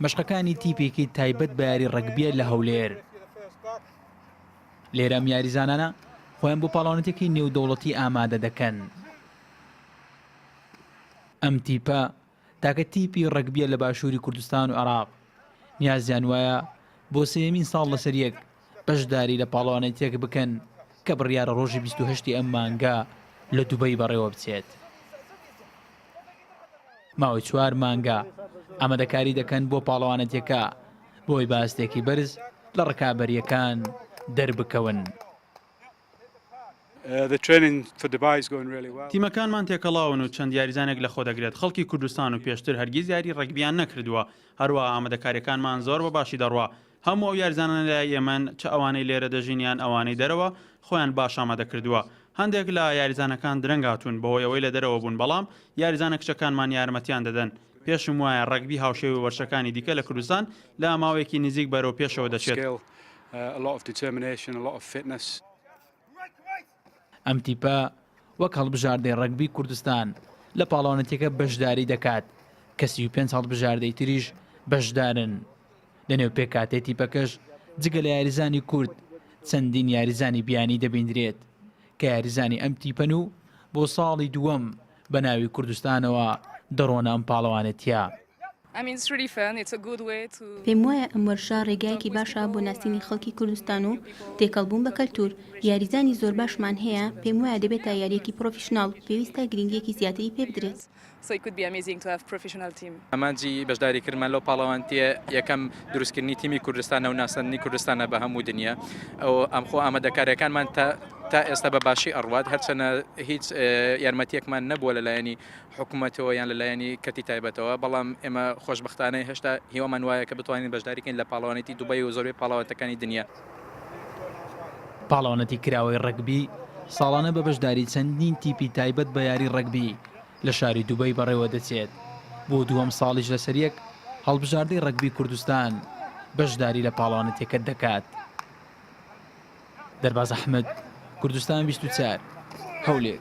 مەشقەکانی تیپێکی تایبەت بە یاری ڕگبیە لە هەولێر لێرەم یاریزانانە خۆیان بۆ پاڵاونەتێکی نێودەوڵەتی ئامادە دەکەن ئەم تیپە تاکە تیپی ڕگبیە لە باشووری کوردستان و عراق نیازیان وایە بۆ سێمین ساڵ لەسەر یەک بەشداری لە پاڵەوانێتییەک بکەن کە بڕیارە ڕۆژی بیست و هەشتی ئەم مانگە لە دوبەی بەڕێوەبچێت. ماوەی چوار مانگە ئامادەکاری دەکەن بۆ پاڵەوانێتیەکە بۆی باستێکی بەرز لە ڕکابەریەکان دەربکەون. تیمەکانمان تێکەڵاون و چەند یاریزانێک لەخۆ دەگرێت خەڵکی کوردستان و پێشتر هەرگیز یاری ڕەگبییان نەکردووە، هەروەها ئامادەکارییەکانمان زۆر بە باشی دەڕوا، هەموو ئەو یاریزانانەی لە یەمەن، چ ئەوانەی لێرە دەژین یان ئەوانەی دەرەوە، خۆیان باش ئامادە کردووە. هەندێک لە یاریزانەکان درەنگ هاتوون، بەهۆی ئەوەی لە دەرەوە بوون، بەڵام یاریزانە کچەکانمان یارمەتییان دەدەن. پێشم وایە ڕەگبی هاوشێوەی وەرزشەکانی دیکە لە کوردستان لە ماوەیەکی نزیک بەرەو پێشەوە دەچێت. ئەم تیپە وەک هەڵبژاردەی ڕەگبی کوردستان لە پاڵەوانێتیەکە بەشداری دەکات کە سی و پێنج هەڵبژاردەی تریش بەشدارن لە نێو پێکاتێ تیپەکەش جگە لە یاریزانی کورد چەندین یاریزانی بیانی دەبیندرێت کە یاریزانی ئەم تیپەن و بۆ ساڵی دووەم بە ناوی کوردستانەوە دەڕۆنە ئەم پاڵەوانێتیە. پێموایە ئەم وەرشە ڕێگایەکی باشە بۆ ناسینی خەڵکی کوردستان و تێکەڵ بوون بە کەلتوور. یاریزانی زۆر باشمان هەیە، پێموایە دەبێتە یارییەکی پرۆفیشناڵ، پێویستە گرنگییەکی زیاتری پێ بدرێت. ئامانجی بەشداریکردنمان لەو پاڵەوانتییە یەکەم دروستکردنی تیمی کوردستانە و ناساندنی کوردستانە بە هەموو دنیا. ئەمخۆ ئامادەکارییەکانمان تا ئێستا بە باشی ئەڕوات، هەرچەنە هیچ یارمەتییەکمان نەبووە لە لایەنی حکومەتەوە یان لە لایەنی کەرتی تایبەتەوە، بەڵام ئێمە خۆشبەختانە هێشتا هیوامان وایە کە بتوانین بەشداری کەین لە پاڵەوانێتی دوبەی و زۆربەی پاڵەوانێتەکانی دنیا. پاڵەوانێتی کراوەی ڕەگبی ساڵانە بە بەشداری چەندین تیپی تایبەت بە یاری ڕەگبی لە شاری دوبەی بەڕێوە دەچێت، بۆ دووەم ساڵیش لەسەریەک هەڵبژاردەی ڕەگبی کوردستان بەشداری لە پاڵەوانێتیەکە دەکات. دەرباز ئەحمد کوردستان بیست و چار هەولێر.